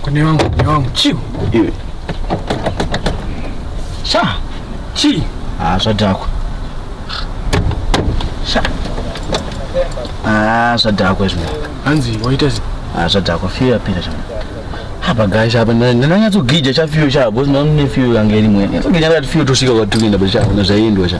Kune wangu, kune wangu. Chiu. Iwe. Sha. Chi. Ah, zvadhakwa. Sha. Ah, zvadhakwa izvo. Hanzi waita zi. Ah, zvadhakwa fiyo yapira chama. Hapa guys hapa nananyatso gija cha fiyo cha boss na mne fiyo yange rimwe. Nyatso gija ngati fiyo tosvika kwatikuenda bcha. Unazvaendwa cha.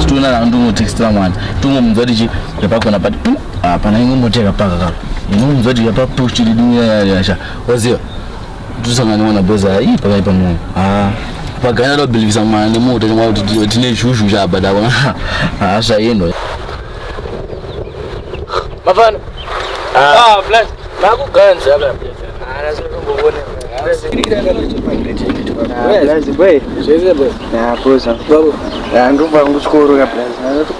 Situna na ndungu tikistra mwana tungu mzodi chi repako na pati hapana ingu moteka paka kaka ingu mzodi ya papu kuchiri dunia ya ya sha wazio tusangani mwana boza hii paka ipa mwana haa pagana lo bilivisa mwana ni muta chimwa kuti tine shushu sha abada wana haa sha yendo mafana haa ah, ah, flash makuganza kaka ndobva kuchikoro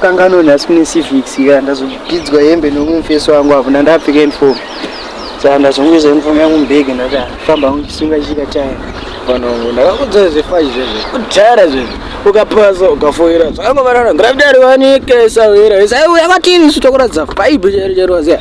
kakanganoni asi kune civics ka ndazopidzwa hembe nomwe mufeso wangu apo ndandapfeka uniform saka ndazongoisa uniform yangu mubhege ndafamba angu chisunga chika chaya vanongo ndakakudzai zvefachi zvezvo kudhara zvezvo ukapasa ukafoira zvakangovarana gravitari wanike sawira isaiuya kwatiri isu tokuratidza bhaibhi chero chero waziya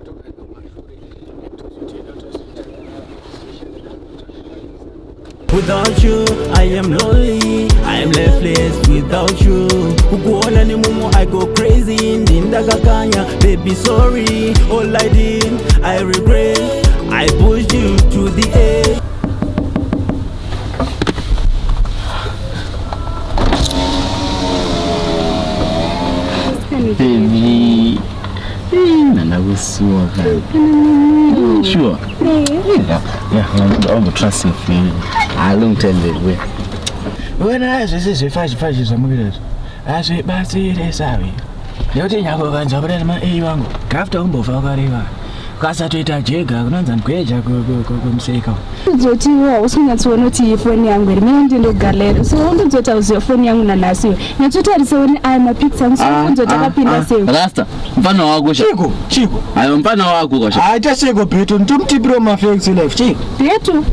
Without you, I am lonely. I am lifeless without you. Kukuona ni mumu, I go crazy. Ndinda kakanya, baby sorry. All I did, I regret. I pushed you to the edge. Baby. Nanda kusuwa kani. Sure. Yeah, yeah, I want to trust you for a long time ago. Wena zvese zvefashi fashi zvamukuita izvi hazvibatsire savi nekuti nyangwe ukanzwa kuda nema a wangu gafta umbofa ukareva ukasatoita jega kunonzi ndikueja kumuseka zoti hausi unyatsoona kuti iyi foni yangu iri mene ndindo galeri so wondozoti hauziva foni yangu nanhasi iwe nyatsotarisavo ni aya mapicture angu sokunzoti ah, ah, akapinda ah. sei rasta mfana wako chiko chiko ayo mfana wako kasha aita seko beto nditomutipiro mafex life chiko beto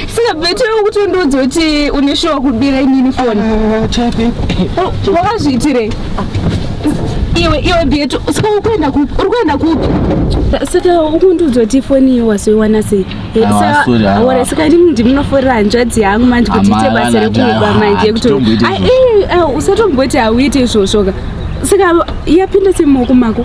saka better kuti undiudze kuti une shuwa kubira inini foni wakazviitirei iwe iwe beto saka uri kuenda kupi uri kuenda kupi saka ukundiudza kuti foni iyo wazoiwana sei Eh, Awa, saka- sorry, awa. awara saka ndimi ndimunoforera hanzvadzi yangu manje kuti ite Amala, basa rekuba nada, manje ah, yekuti tomboita Ah, izvozvo. eh, ah, usatomboti hauite izvozvoka saka yapinda semumaoko mako